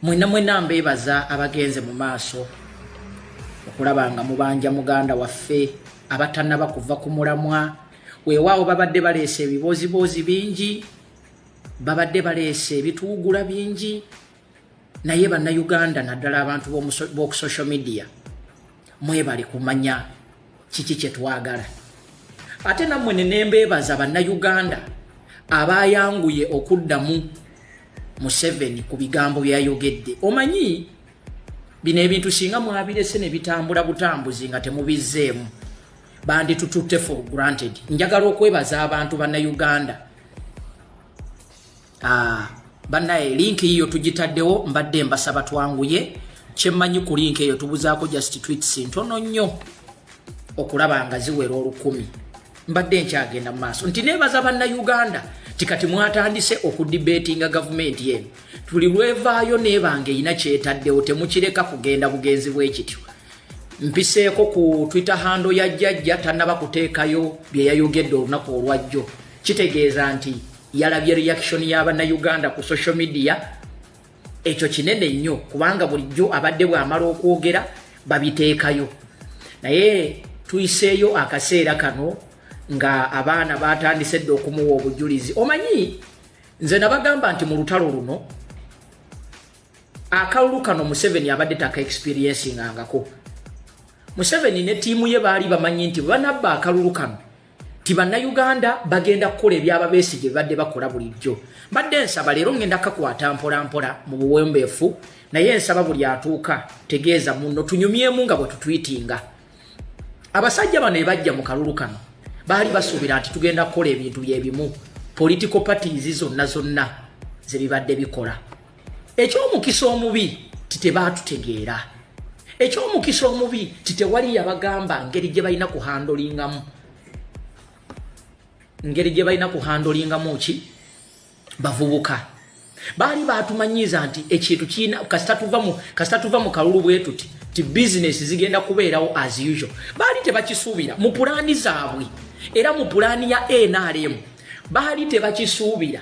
Mwena mwena mbebaza abagenze mu maaso okulaba nga mubanja muganda waffe abatanaba kuva ku mulamwa weewaawo babadde baleese ebibooziboozi bingi babadde baleese ebituwugula bingi naye bannayuganda naddala abantu b'oku social media mwebale kumanya kiki kyetwagala ate nammwe nenembeebaza bannayuganda abayanguye okuddamu museveni ku bigambo byayogedde omanyi bino ebintu singa mwabirese nebitambula butambuzi nga temubizzeemu banditututte for granted njagala okwebaza abantu bannayuganda Ah, banaye link yiyo tugitaddewo mbadde mbasaba twanguye kyemmanyi ku link eyo tubuzaako just tweets ntono nnyo okulaba nga ziwera olukumi mbadde nkyagenda mu maaso nti nebaza banna uganda tikati mwatandise okudibetinga gavumenti eno tuli lwevaayo nebanga erina kyetaddewo temukireka kugenda bugenzi bwekityo mpiseeko ku twitter hando ya jjajja tanaba kuteekayo byeyayogedde olunaku olwajjo kitegeeza nti yalabye reaction ya bannayuganda ku social media ekyo kinene nnyo kubanga bulijjo abadde bwamala okwogera babiteekayo naye tuyiseeyo akaseera kano nga abaana batandise dde okumuwa obujulizi omanyi nze nabagamba nti mu lutalo luno akalulu kano museveni abadde taka experiencingangako museveni ne tiimu ye baali bamanyi nti bwebanabba akalulu kano nti bannayuganda bagenda kukola ebyaba besigye bibadde bakola bulijjo mbadde nsaba leero ngenda kakwata mpolampola mu buwembeefu naye nsaba buli atuuka tegeeza muno tunyumyemu nga bwetutwitinga abasajja bano ebajja mu kalulu kano baali basuubira nti tugenda kukola ebintu byebimu political parties zonna zonna zebibadde bikola eky'omukisa omubi titebaatutegeera eky'omukisa omubi titewali yabagamba ngeri gye balina kuhandolingamu ngeri gye balina kuhandolingamu ki bavubuka baali baatumanyiiza nti ekintu kiina kasita tuva mu kasita tuva mu kalulu bwe tuti ti bizinesi zigenda kubeerawo as usual baali tebakisuubira mu pulaani zaabwe era mu pulaani ya nrm baali tebakisuubira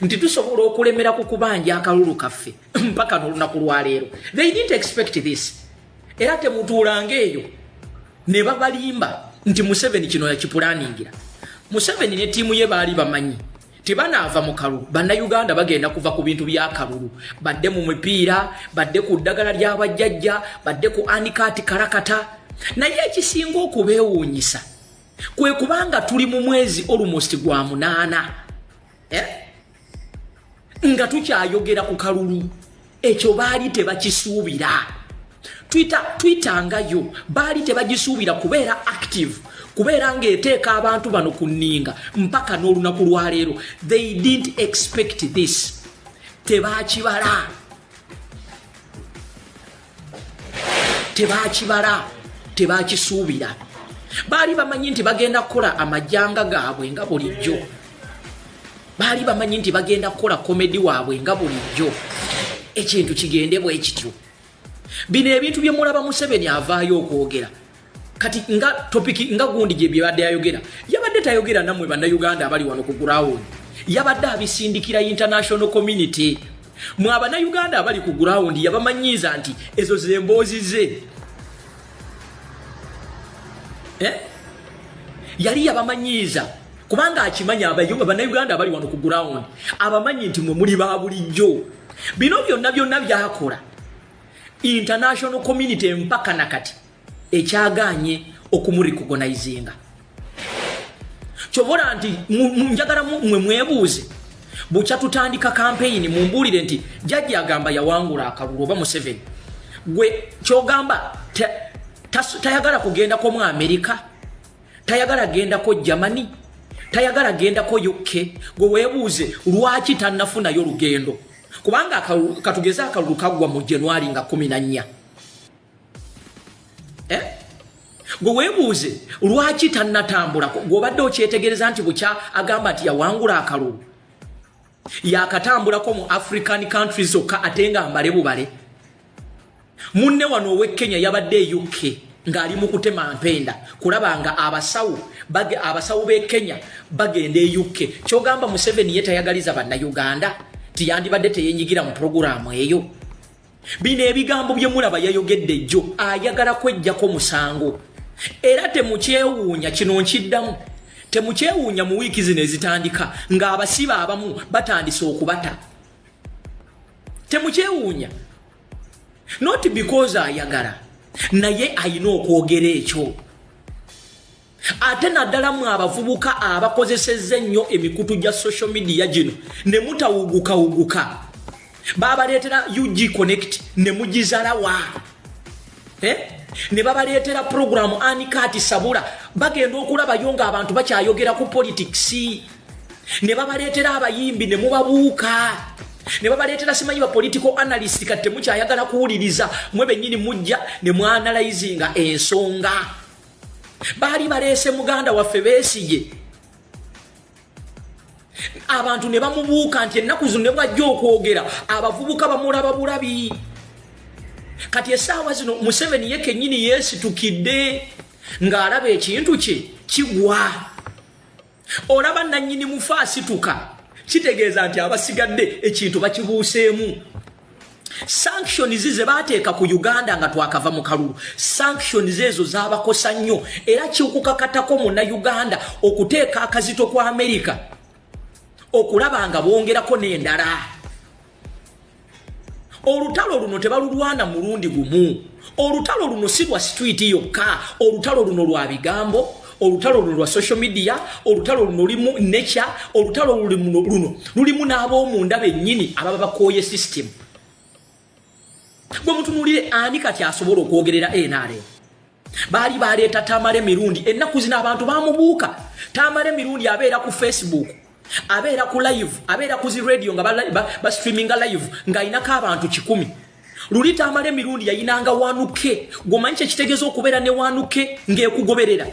nti tusobola okulemera ku kubanja akalulu kaffe mpaka n'olunaku lwaleero they didn't expect this era temutuulanga eyo ne babalimba nti museveni kino yakipulaningira museveni ne tiimu ye baali bamanyi tebanaava mu kalulu bannayuganda bagenda kuva ku bintu byakalulu badde mu mipiira badde ku ddagala ly'abajjajja badde ku anikaati kalakata naye ekisinga okubeewuunyisa kwe kubanga tuli mu mwezi almost gwa munaana eh? nga tukyayogera ku kalulu ekyo baali tebakisuubira twitangayo baali tebagisuubira kubeera active kubeera ng'eteeka abantu bano ku nninga mpaka n'olunaku lwaleero they didn't expect this tebakibala tebakibala tebakisuubira baali bamanyi nti bagenda kukola amajanga gaabwe nga bulijjo baali bamanyi nti bagenda kukola komedi waabwe nga bulijjo ekintu kigendebwa ekityo bino ebintu byemulaba museveni avaayo okwogera kati nga topiki nga gundi gye byebadde ayogera yabadde tayogera namwe bannayuganda abali wano ku gurawundi yabadde abisindikira international community mwe abannayuganda abali ku gurawundi yabamanyiiza nti ezo zemboozi ze eh? yali yabamanyiiza kubanga akimanyi abannayuganda abali wano ku gurawundi abamanyi nti mwe muli ba bulijjo bino byonna byonna byakola international community mpaka nakati ekyagaanye okumurikogonayizinga kyobola nti njagala mwe mwebuuze bukya tutandika kampeyini mumbuulire nti jajja agamba yawangula akalulu oba museveni gwe kyogamba tayagala kugendako mu amerika tayagala gendako germany tayagala gendako uk gwe webuuze lwaki tanafunayo lugendo kubanga katugeze akalulu kaggwa mu januari nga 14 eh? gwe weebuuze lwaki tannatambula gwobadde okyetegereza nti bukya agamba nti yawangula akalulu yakatambulako mu african countries zokka ate nga mbale bubale munne wano ow'e kenya yabadde e uk ng'ali mu kutema mpenda kulaba nga abasawo abasawo b'e kenya bagenda e uk kyogamba museveni ye tayagaliza bannayuganda tiyandibadde teyenyigira mu pulogulaamu eyo bino ebigambo bye mulaba yayogedde jjo ayagala kwejjako musango era temukyewuunya kino nkiddamu temukyewuunya mu wiiki zino ezitandika ng'abasibe abamu batandise okubata temukyewuunya not because ayagala naye ayina okwogera ekyo ate naddala mu abavubuka abakozesezza ennyo emikutu gya social media gino ne mutawugukawuguka babaleetera ug connect ne mugizalawa eh? ne babaleetera puroguramu anikaati sabula bagenda okulabayo nga abantu bakyayogera ku politics ne babaleetera abayimbi ne mubabuuka ne babaleetera simanyi bapolitical analyst kati temukyayagala kuwuliriza mwe bennyini mujja ne mwanalayizinga ensonga baali baleese muganda waffe beesige abantu ne bamubuuka nti ennaku zino ne bwajja okwogera abavubuka bamulaba bulabi kati esaawa zino museveni ye kenyini yeesitukidde ng'alaba ekintu kye kigwa olaba nannyini mufa asituka kitegeeza nti abasigadde ekintu bakibuuseemu sanctions ze baateeka ku uganda nga twakava mu kalulu sanctions ezo zabakosa nnyo era kikukakatako muna uganda okuteeka akazito ku amerika okulaba nga bongerako n'endala olutalo luno tebalulwana mulundi gumu olutalo luno si lwa street yokka olutalo luno lwa bigambo olutalo luno lwa social media olutalo luno lulimu nature olutalo luno lulimu n'ab'omunda bennyini ababa bakooye system gwe mutunulire ani kati asobola okwogerera nrm baali baleeta tamale mirundi ennaku zino abantu bamubuuka tamale mirundi abeera ku facebook abeera ku live abeera ku zi radio nga bastreaminga ba, ba live ng'alinako abantu kikumi luli tamale mirundi yayinanga wanuke gwomanyi kyekitegeeza okubeera ne wanuke ng'ekugoberera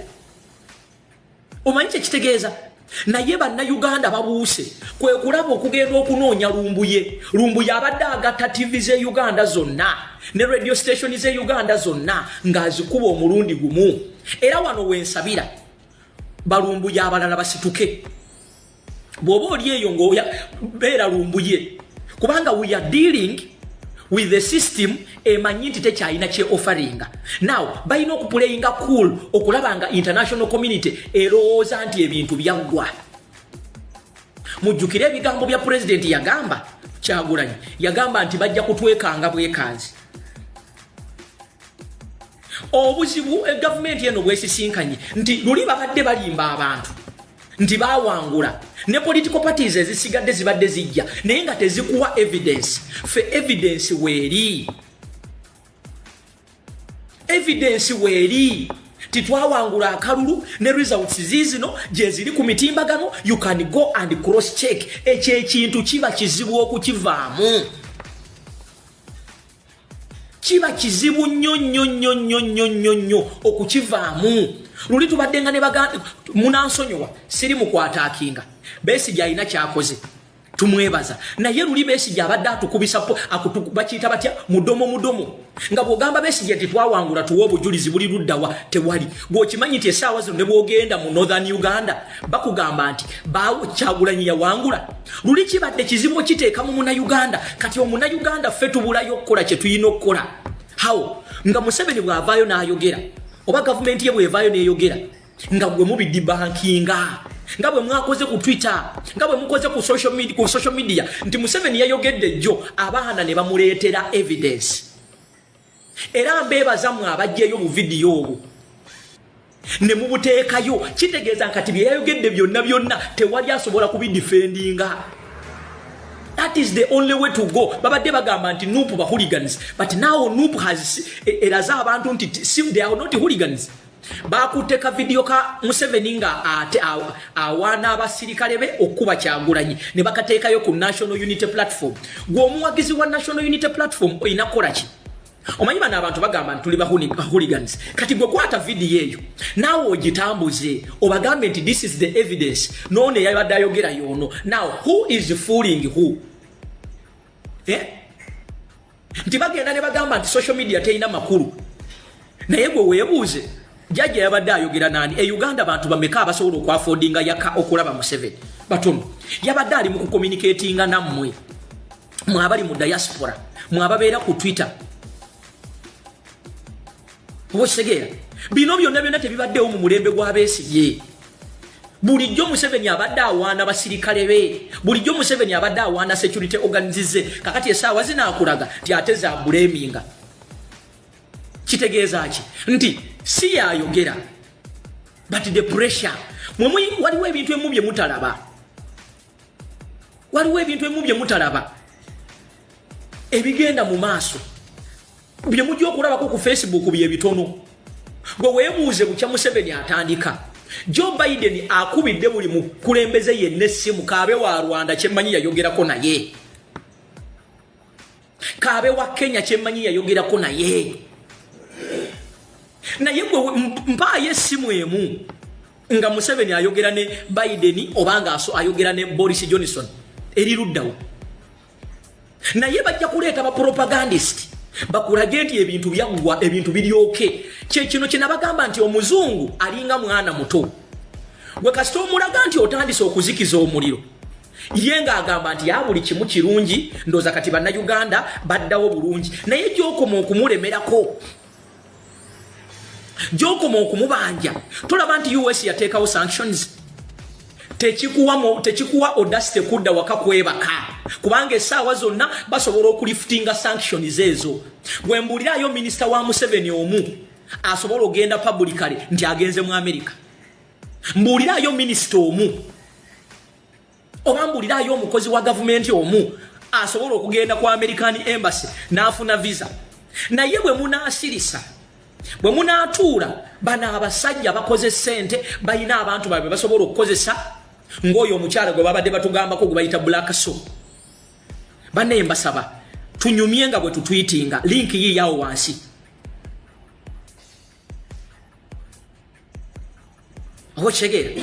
omanyi kyekitegeeza naye bannayuganda babuuse kwe kulaba okugenda okunoonya lumbuye lumbuye abadde agatta tivi ze uganda zonna ne radio station ze uganda zonna ng'azikuba omulundi gumu era wano wensabira balumbuye abalala basituke bwoba oli eyo ngaoya beera lumbuye kubanga we are dealing with the system emanyi nti tekyalina kye offeringa now balina okupulayinga cool okulaba nga international community erowooza nti ebintu byaggwa mujjukire ebigambo bya pulezidenti yagamba kyagulanyi yagamba nti bajja kutwekanga bwekanzi obuzibu eh, gavumenti eno bwesisinkanye nti luli babadde balimba abantu nti bawangula ne political parties ezisigadde zibadde zijja naye nga tezikuwa evidence fe evidence weeri evidence weeri titwawangula akalulu ne results zizino gyeziri ku mitimbagano you can go and cross check ekyo ekintu kiba kizibu okukivaamu kiba kizibu nnyo nnyo nnyo nnyo nnyo nnyo nnyo okukivaamu luli tubadde nga ne baganda munansonyiwa siri mukwatakinga besigye alina kyakoze tumwebaza naye luli besigye abadde atukubisa bakiyita batya mudomo mudomo nga bwogamba besigye nti twawangula tuwa obujulizi buli luddawa tewali gweokimanyi nti esaawa zino ne bwogenda mu northern uganda bakugamba nti bawo kyagulanyi yawangula luli kibadde kizibu okiteeka mu munauganda kati omunauganda ffe tubulayo okukola kye tulina okukola hawo nga museveni bw'avaayo n'ayogera oba gavumenti ye bw'evaayo n'eyogera nga gwe mubiddi bankinga nga bwe mwakoze ku twitter nga bwe mukoze ku social media, ku social media nti museveni yayogedde jjo abaana ne bamuleetera evidence era mbeebaza mwe abajjeeyo mu vidiyo obwo ne mubuteekayo kitegeeza nkati bye yayogedde byonna byonna tewali asobola kubidifendinga that is the only way to go babadde bagamba nti nup ba hooligans but now nup has eraze abantu nti they are not hooligans bakutte ka vidiyo ka museveni nga ate awaana abasirikale be okukuba kyagulanyi ne bakateekayo ku national unity platform gwe omuwagizi wa national unity platform olina kukola ki omanyi bano abantu bagamba nti tuli bahooligans kati gwe kwata vidiyo eyo naawe ogitambuze obagambe nti this is the evidence noono eyabadde ayogera yoono now who is fooling who eh? nti bagenda ne bagamba nti social media terina makulu naye gwe weebuuze jajja yabadde ayogera nani e uganda bantu bameka abasobola okwafodinga yaka okulaba museveni batono yabadde ali mu kukomunikatinga nammwe mwabali mu diaspora mwababeera ku twitter okitegeera bino byonna byonna tebibaddewo mu mulembe gw'abeesigye bulijjo museveni abadde awaana basirikale be bulijjo museveni abadde awaana security organize kakati esaawa zinaakulaga nti ate zabuleminga kitegeeza ki nti si yayogera but the pressure mwemwe waliwo ebintu emu bye mutalaba waliwo ebintu ebimu bye mutalaba ebigenda mu maaso bye mujja okulabako ku facebook bye bitono gwe weebuuze bukya museveni atandika joe biden akubidde buli mukulembeze yenna essimu kaabe wa rwanda kyemmanyi yayogerako naye kaabe wa kenya kyemmanyi yayogerako naye naye gwe mpaayo essimu emu nga museveni ayogera ne biden oba nga ayogera ne boris johnson eri luddawo naye bajja kuleeta bapropagandist bakulage nti ebintu byaggwa ebintu biryoke kyekino kyenabagamba nti omuzungu alinga mwana muto gwe kasita omulaga nti otandise okuzikiza omuliro ye ng'agamba nti ya buli kimu kirungi ndooza kati bannayuganda baddawo bulungi naye gyokoma okumulemerako gyokoma okumubanja tolaba nti us yateekawo sanctions tekikuwa tekikuwa odasite kudda waka kwebaka kubanga esaawa zonna basobola okulifutinga sanctions ezo wembuulirayo minisita wa museveni omu asobola ogenda pabulikale nti agenze mu amerika mbuuliraayo minisita omu oba mbuuliraayo omukozi wa gavumenti omu asobola okugenda ku american embassy n'afuna visa naye bwe munaasirisa bwe munaatuula bano abasajja bakoze ssente balina abantu babwe basobola okukozesa ng'oyo omukyala gwe babadde batugambako gwe bayita black so banaye mbasaba tunyumye nga bwe tutwitinga linki yiiyawo wansi okitegeera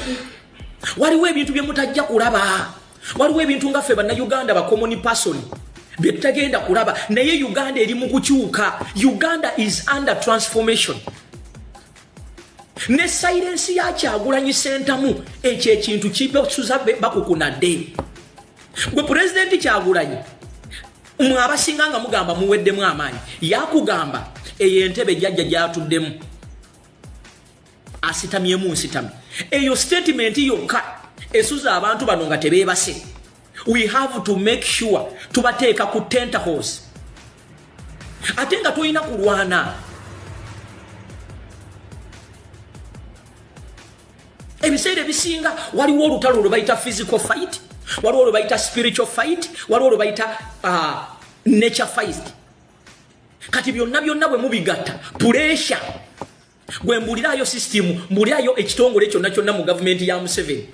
waliwo ebintu bye mutajja kulaba waliwo ebintu nga ffe bannayuganda bakomoni pasoni bye tutagenda kulaba naye uganda eri mu kukyuka uganda is under transformation ne sayirensi yakyagulanyi sentamu ekyo ekintu kibesuza bakukunadde gwe pulezidenti kyagulanyi mwe abasinga nga mugamba muweddemu amaanyi yakugamba eyo entebe jajja gyatuddemu asitamyemu nsitami eyo sitatimenti yokka esuza abantu bano nga tebeebase we have to make sure tubateeka ku tentacles ate nga tulina kulwana ebiseera ebisinga waliwo olutalo lwe bayita physical fight waliwo lwe bayita spiritual fight waliwo lwe bayita uh, nature fight kati byonna byonna bwe mubigatta puresha gwe mbulirayo sisitimu mbulirayo ekitongole kyonna kyonna mu gavumenti ya museveni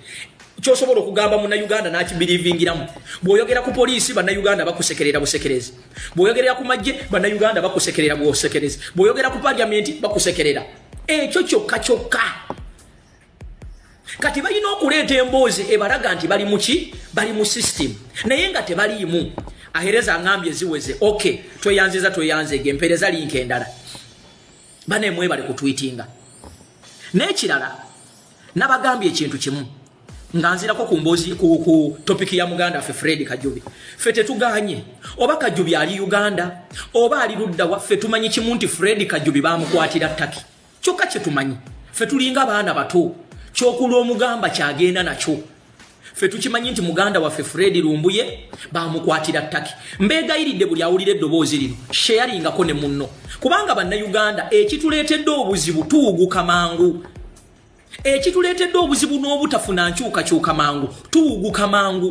kyosobola okugamba munauganda nakibirivingiramu bwoyogera ku poliisi banauganda bakusekerera busekerezi bwoyogerera ku majje banauganda bakusekerera bwosekerezi bwoyogera ku paliamenti bakusekerera ekyo kyokka kyokka kati balina okuleeta emboozi ebalaga nti bali muki bali mu system naye nga tebaliimu ahereza ngambye ziweze ok tweyanziza tweyanzege empereza linka endala banemwebale kutwitinga nekirala nabagambye ekintu kimu nga nzirako ku mbozi ku, ku topiki ya muganda ffe fredi kajubi ffe tetuganye oba kajubi ali uganda oba ali ludda waffe tumanyi kimu nti fredi kajubi bamukwatira taki kyokka kyetumanyi ffe tulinga baana bato kyokulwa omugamba kyagenda nakyo ffe tukimanyi nti muganda waffe fredi lumbuye bamukwatira taki mbeegayiridde buli awulira eddoboozi lino sheyaringako ne munno kubanga bannayuganda ekituleetedde obuzibu tuwuguka mangu ekituleetedde obuzibu n'obutafuna nkyukakyuka mangu tuwuguka mangu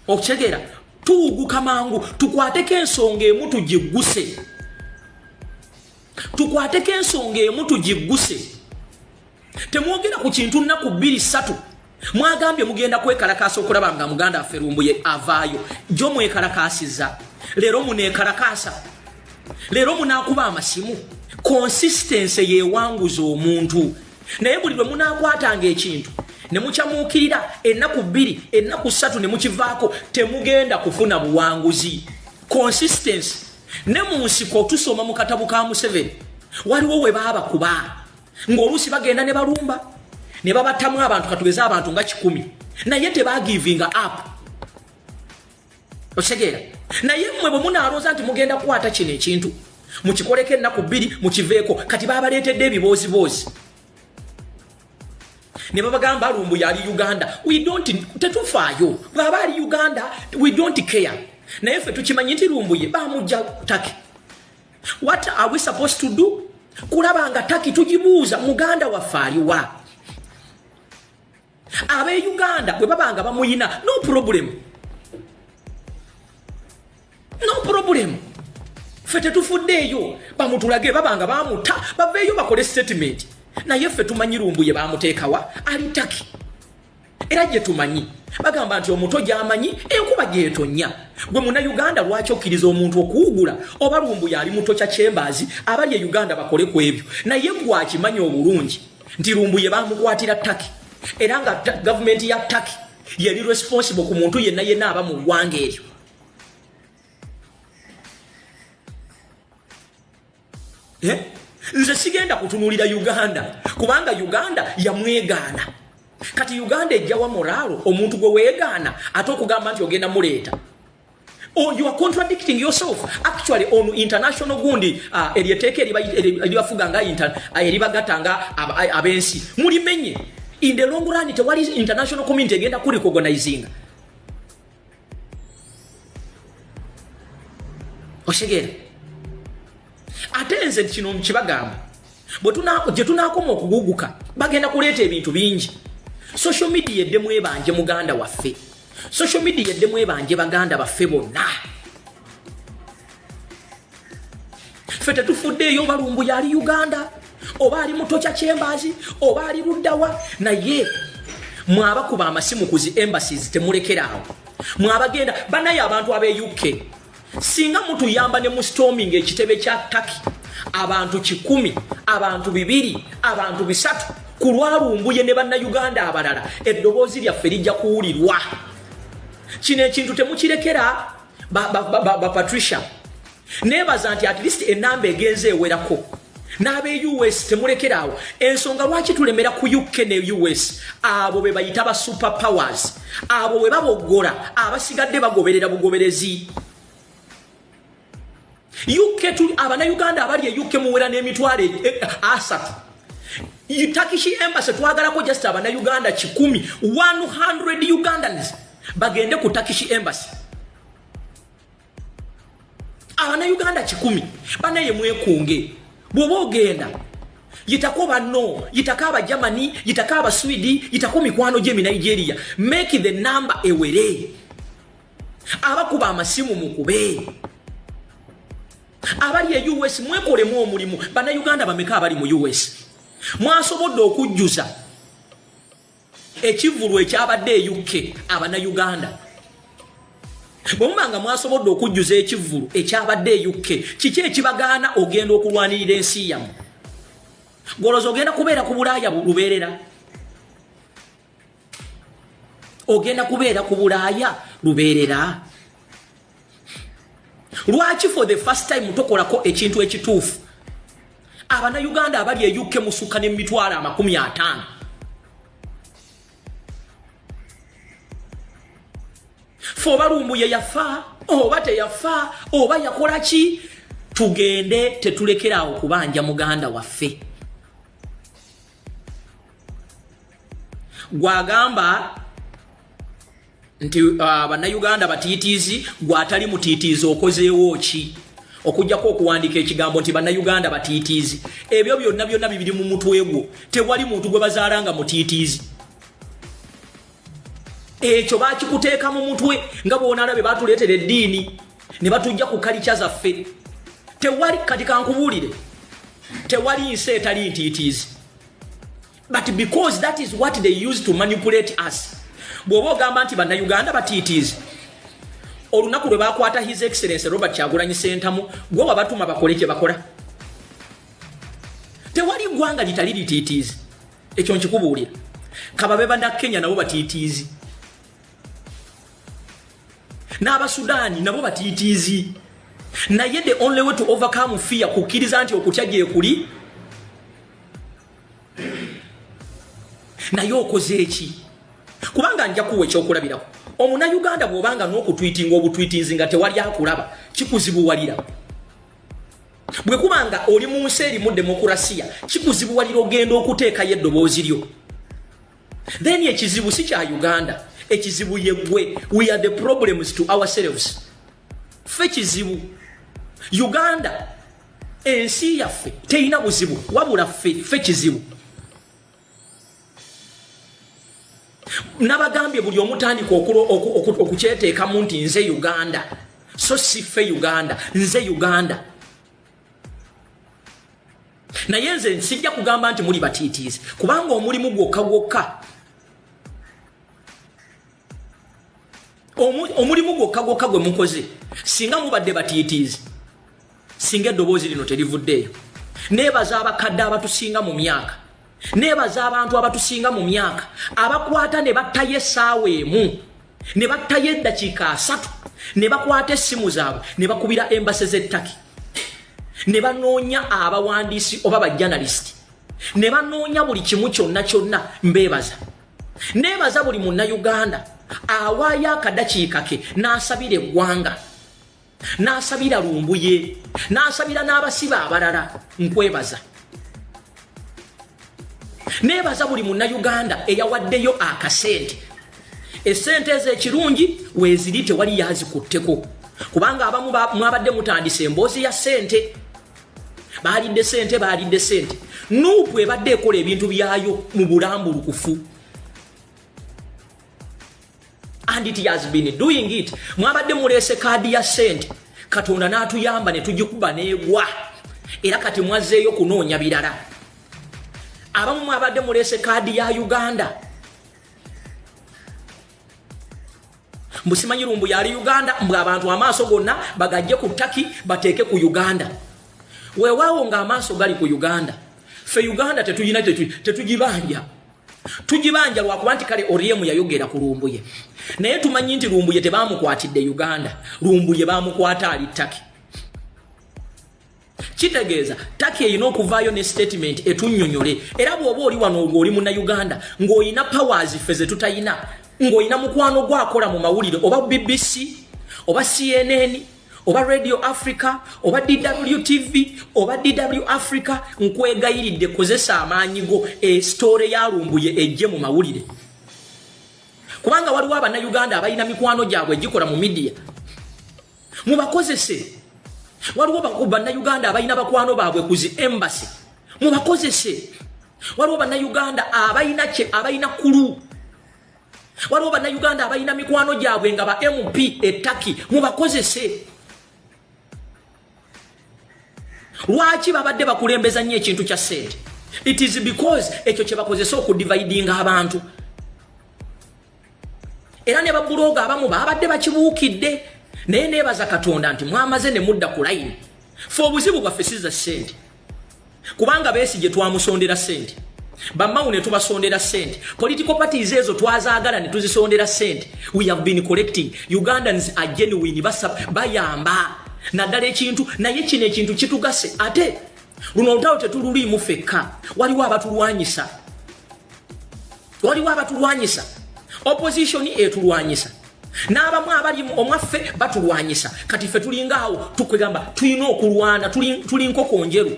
okitegeera tuwuguka mangu tukwateko ensonga emu tugigguse tukwateko ensonga emu tugigguse Temwogera ku kintu nnaku bbiri ssatu mwagambye mugenda kwekalakaasa okulaba nga muganda affe lumbuye avaayo jo mwekalakaasiza leero muneekalakaasa leero munaakuba amasimu konsistense yeewanguza omuntu naye buli lwe munaakwatanga ekintu ne mukyamuukirira ennaku bbiri ennaku ssatu ne mukivaako temugenda kufuna buwanguzi konsistense ne mu nsiko tusoma mu katabu ka museveni waliwo we baabakuba ng'oluusi bagenda ne balumba ne babattamu abantu katugeze abantu nga kikumi naye tebagivinga app okitegeera naye mmwe bwe munaalooza nti mugenda kukwata kino ekintu mukikoleko ennaku bbiri mukiveeko kati babaleetedde ebibooziboozi ne babagamba lumbu yali uganda tetufaayo bwaba ali uganda we don't care naye ffe tukimanyi nti lumbuye bamujja take What are we supposed to do? Kulaba nga taki tujibuuza muganda waffe aliwa? Abe Uganda bwe baba nga bamuyina no problem. No problem. Ffe tetufuddeeyo bamutulage baba nga bamuta baveeyo bakole statement naye ffe tumanyi lumbuye bamuteekawa ali taki era gye tumanyi bagamba nti omuto gyamanyi enkuba gyetonya gwe muna uganda lwaki okkiriza omuntu okuwugula oba lumbu yali muto kya kyembaazi abali e uganda bakole ku ebyo naye gwakimanyi obulungi nti lumbu ye bamukwatira taki era nga gavumenti ya taki yeri responsible ku muntu yenna yenna aba mu ggwanga eryo eh? nze sigenda kutunulira uganda kubanga uganda yamwegaana kati uganda ejjawa moraalo omuntu gwe weegaana ate okugamba nti ogenda muleeta Oh, you are contradicting yourself actually on international gundi uh, eryeteeka eribafuga nga uh, eribagata nga uh, abensi mulimenye in the long run tewali international community egenda kurikogonaizinga okitegeera ate nze kino kibagamba gye tunaakoma okuguguka bagenda kuleeta ebintu bingi social media edde mwebanje muganda waffe social media edde mwebanje baganda baffe bonna ffe tetufuddeeyo balumbu yali uganda oba ali mutokya kyembazi oba ali luddawa naye mwabakuba amasimu ku zi embassies temulekeraawo mwabagenda banaye abantu abe uk singa mutuyamba ne mustorming ekitebe kya taki abantu kikumi abantu bibiri abantu bisatu ku lwalumbuye ne bannayuganda abalala eddoboozi lyaffe lijja kuwulirwa kino ekintu temukirekera ba, ba, ba, ba, ba patricia nebaza nti at least enamba egenze ewerako n'ab'e us temulekeraawo ensonga lwaki tulemera ku uk ne us abo be bayita ba super powers abo bwe baboggola abasigadde bagoberera bugoberezi UK tuli abana Uganda abali e UK muwera ne mitwale e, e, asatu. Turkish embassy twagala ko just abana Uganda kikumi 100 Ugandans bagende ku Turkish embassy. Abana Uganda kikumi bana ye mwekunge. Bwoba ogenda yitako banno yitako aba germany yitako aba swede yitako mikwano gye mi nigeria make the number ewere abakuba amasimu mukube abali e us mwekolemu omulimu bannayuganda bameka abali mu us mwasobodde okujjuza ekivulu ekyabadde e uk abannayuganda bwemuba nga mwasobodde okujjuza ekivulu ekyabadde e uk kiki ekibagaana ogenda okulwanirira ensi yamu goloza ogenda kubeera ku bulaaya lubeerera ogenda kubeera ku bulaaya lubeerera lwaki for the first time tokolako ekintu ekituufu abanauganda abali eyukke musukka ne mitwalo amakumi ataano fe oba lumbuye yafa oba teyafa oba yakola ki tugende tetulekeraawo kubanja muganda waffe gwagamba nti uh, bannayuganda batiitiizi gwatali mutiitiizi okozeewo ki okujjako okuwandiika ekigambo nti bannayuganda batiitiizi ebyo byonna byonna bibiri mu mutwe gwo tewali muntu gwe bazaala nga mutiitiizi ekyo bakikuteeka mu mutwe nga bwonalabe batuleetera eddiini ne batujja ku kalikya zaffe tewali kati kankubuulire tewali nsi etali ntiitiizi but because that is what they use to manipulate us bw'oba ogamba nti bannayuganda batiitiizi olunaku lwe bakwata his excellence robert kyagulanyi sentamu gwe wabatuma bakole kye bakola tewali ggwanga litali litiitiizi ekyo nkikubuulira kababe banakenya nabo batiitiizi n'abasudaani nabo batiitiizi naye the only way to overcome fear kukkiriza nti okutya gyekuli naye okoze eki kubanga nja kuwa ekyokulabirako omunayuganda bwobanga n'okutwitinga obutwitinzi nga tewali akulaba kikuzibuwalira bwe kuba nga oli mu nsi erimu demokurasiya kikuzibuwalira ogenda okuteekayo eddoboozi lyo then ekizibu si kya uganda ekizibu yegwe we are the problems to ourselves fe kizibu uganda ensi yaffe teyina buzibu wabula fe fe kizibu nabagambye buli omutandika okukyeteekamu nti nze uganda so siffe uganda nze uganda naye nze nsijja kugamba nti muli batiitiizi kubanga omulimu gwokka gwokka omulimu gwokka gwokka gwe mukoze singa mubadde batiitiizi singa eddoboozi lino terivuddeeyo neebaza abakadde abatusinga mu myaka neebaza abantu abatusinga mu myaka abakwata ne battayo essaawa emu ne battayo eddakiika asatu ne bakwata essimu zaabwe ne bakubira embase z'ettaki ne banoonya abawandiisi oba bajanalisiti ne banoonya buli kimu kyonna kyonna mbeebaza nebaza buli munnayuganda awaayo akadakiika ke n'asabira eggwanga n'asabira lumbuye n'asabira n'abasibe abalala nkwebaza nebaza buli munnayuganda eyawaddeyo akasente esente ezo ekirungi weziri tewali yazikutteko kubanga abamu mwabadde mutandisa emboozi ya sente baalidde sente baalidde sente nuupu ebadde ekola ebintu byayo mu bulambulukufu and it has been doing it mwabadde muleese kaadi ya sente katonda n'atuyamba ne tugikuba n'egwa era kati mwazzeeyo kunoonya birala abamu mwabadde muleese kaadi ya uganda mbu simanyi lumbu yali uganda mbu abantu amaaso gonna bagajje ku taki bateeke ku uganda weewaawo nga amaaso gali ku uganda fe uganda tetuyina tetugibanja tugibanja lwakuba nti kale oriemu yayogera ku lumbuye naye tumanyi nti lumbuye tebamukwatidde uganda lumbuye bamukwata ali taki kitegeeza taki erina okuvaayo ne statement etunyonyole era bwoba oli wano olwo oli munauganda ng'olina powers ffe zetutayina ng'olina mukwano gwakola mu mawulire oba bbc oba cnn oba radio africa oba dw tv oba dw africa nkwegayiridde kozesa amaanyi go esitoore eh, yalumbuye ejje mu mawulire kubanga waliwo abanauganda abalina mikwano gyabwe egikola mu midiya mubakozese waliwo bannayuganda abalina bakwano baabwe ku zi embasi mubakozese waliwo bannayuganda abalina kye abalina kulu waliwo bannayuganda abalina mikwano gyabwe nga ba mp etaki mubakozese lwaki babadde bakulembeza nnyo ekintu kya sente it is because ekyo kyebakozesa okudividinga abantu era ne babuloga abamu babadde bakibuukidde naye nebaza katonda nti mwamaze ne mudda ku layini fe obuzibu bwaffe siza sente kubanga besi gye twamusondera sente bamawu ne tubasondera sente political parties ezo twazaagala ne tuzisondera sente we have been collecting ugandans are genuine bayamba naddala ekintu naye kino ekintu kitugase ate luno olutalo tetululiimu fekka waliwo abatulwanyisa waliwo abatulwanyisa opposition etulwanyisa n'abamu abali omwaffe batulwanyisa kati ffe tulinga awo tukwegamba tulina okulwana tuli nkoko njeru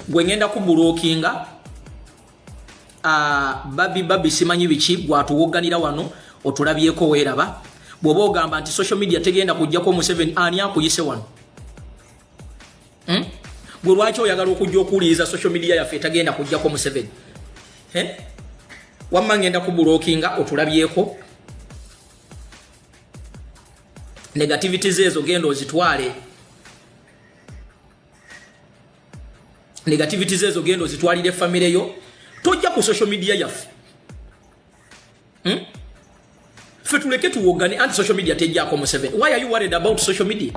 gwe ngenda kubulokinga ah, babi babi simanyi biki gwatuwogganira wano otulabyeko weeraba bw'oba ogamba nti social media tegenda kujjako museveni ani akuyise wano hmm? gwe lwaki oyagala okujja okuwuliriza social media yaffe etagenda kujjako museveni eh? wamma ngenda kubulokinga otulabyeko negativity zeezo genda ozitwale negativity zeezo genda ozitwalire famire yo tojja ku social media yaffe hmm? ffe tuleke tuwogane anti social media tejjako museven why are you worried about social media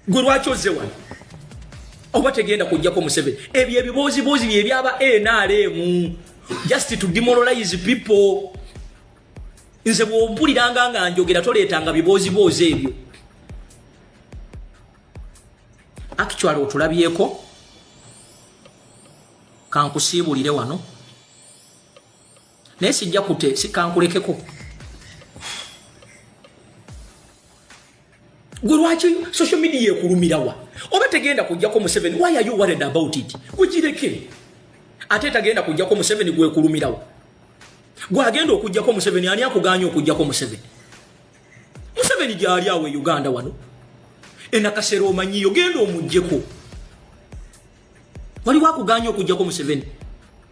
gwe lwaki ozze wano oba tegenda kujjako museven ebyo ebibooziboozi bye byaba nrm just to demoralize people nze bwompuliranga nga njogera toleetanga bibooziboozi ebyo actually otulabyeko kankusiibulire wano naye sijja kute sikankulekeko gwe lwaki social media ekulumirawa oba tegenda kujjako museveni why are you worried about it gugireke ate tagenda kujjako museveni gwekulumirawa gwagenda okujjako museveni ani akuganya okujjako museveni museveni gyali awo e uganda wano enakasera omanyiyo genda omujjeko waliwo akuganya okujjako museveni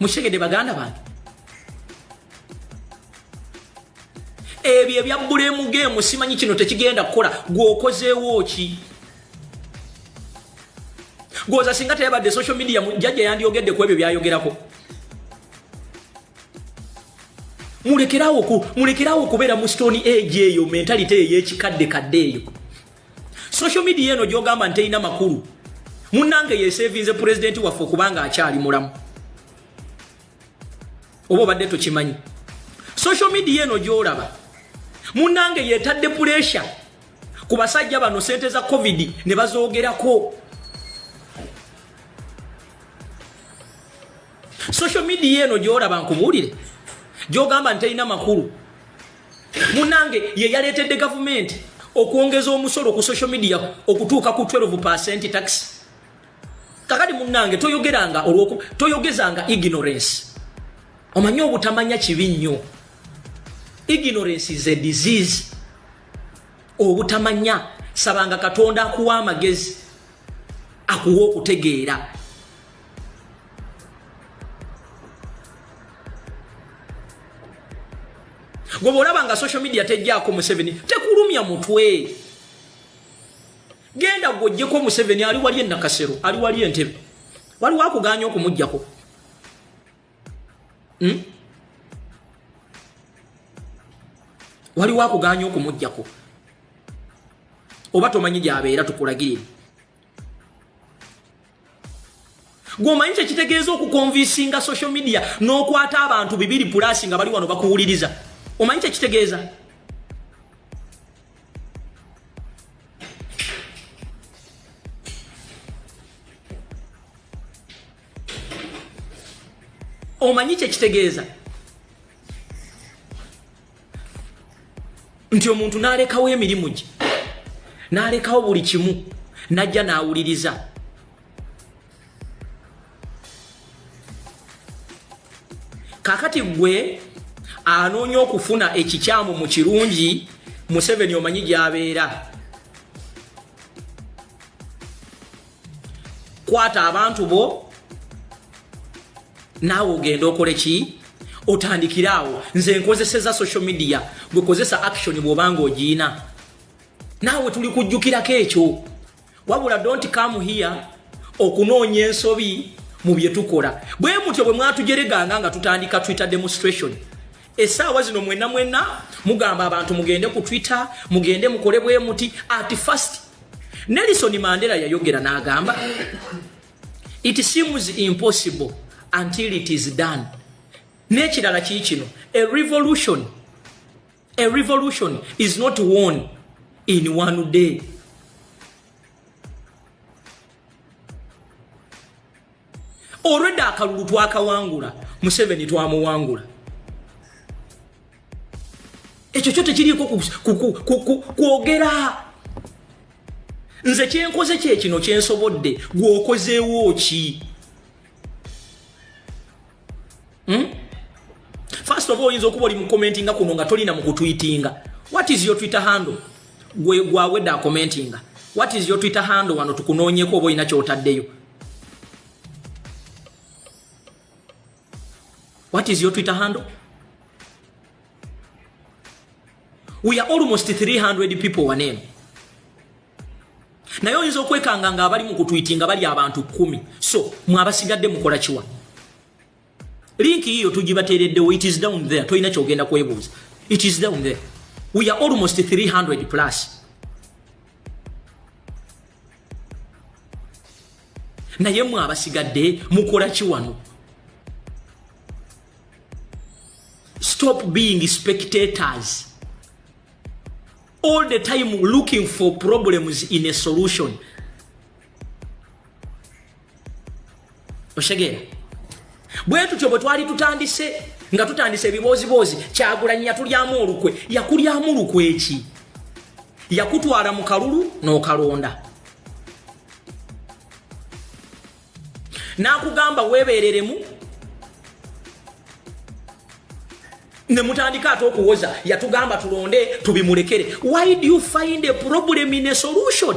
mukitegedde baganda bange ebyo ebya bulemu geemu simanyi kino tekigenda kukola gwokozeewo ki gwoza singa teyabadde social media jajja yandyogedde ku ebyo byayogerako mulekerawo okubeera mu stone age eyo mentality eyo yekikadde kadde eyo social media eno gyogamba nti terina makulu munange yesevinze pulezidenti waffe okubanga akyali mulamu oba obadde tokimanyi social media eno gyolaba munange yetadde pulesha ku basajja bano sente za covid ne bazoogerako social media eno gyolaba nkubuulire gyogamba nti terina makulu munange ye yaleetedde gavumenti okwongeza omusolo ku social media okutuuka ku 12 percent tax kakati munange toyogeranga olwoku toyogezanga ignorance omanyi obutamanya kibi nnyo ignorance is a disease obutamanya sabanga katonda akuwa amagezi akuwa okutegeera gwe bwolaba nga social media tejjaako museveni tekulumya mutwe genda gwojjeko museveni ali wali enakasero ali wali entebe waliwo akuganya okumugjako hmm? waliwo akuganya okumugjako oba tomanyi gyabeera tukulagirire gwomanyi kyekitegeeza okukonvisinga social media n'okwata abantu bibiri pulasi nga bali wano bakuwuliriza omanyi kyekitegeeza omanyi kyekitegeeza nti omuntu n'alekawo emirimu gye n'alekawo buli kimu n'ajja n'awuliriza kakati gwe anoonya okufuna ekikyamu mu kirungi museveni omanyi gyabeera kwata abantu bo naawe ogenda okole ki otandikire awo nze nkozeseza social media gwekozesa action bwobanga ogiina naawe tuli kujjukirako ekyo wabula don't come here okunoonya ensobi mu bye tukola bwe mutyo bwe mwatujereganga nga tutandika twitter demonstration esaawa zino mwena mwena mugamba abantu mugende ku twitter mugende mukole bwemuti at first nelison mandela yayogera n'agamba it seems impossible until it is done n'ekirala kii kino a revolution a revolution is not won in one day Already akalulu twakawangula, Museveni twamuwangula. Ekyo kyo tekiriiko kwogera. Nze kyenkoze kye kino kyensobodde, gwe okozeewo ki? Hmm? First of all, oyinza okuba oli mu commentinga kuno nga tolina mu kutwitinga. What is your Twitter handle? Gwe gwa weda commentinga. What is your Twitter handle wano tukunoonyeko oba olina kyotaddeyo. What is your Twitter handle? We are almost 300 people waneno. naye oyinza okwekanga nga abali mu kutwiti nga bali abantu kumi so mwabasigadde mukola kiwa linki yiyo tugibateereddewo it is down there tolina kyogenda kwebuuza it is down there we are almost 300 plus naye mwe abasigadde mukola ki wano stop being spectators all the time looking for problems in a solution oshegera bwe tutyo bwe twali tutandise nga tutandise ebibooziboozi kyagulanyi yatulyamu olukwe yakulyamu lukwe ki yakutwala mu kalulu n'okalonda no n'akugamba weebeereremu ne mutandika ate okuwoza yatugamba tulonde tubimulekere why do you find a problem in a solution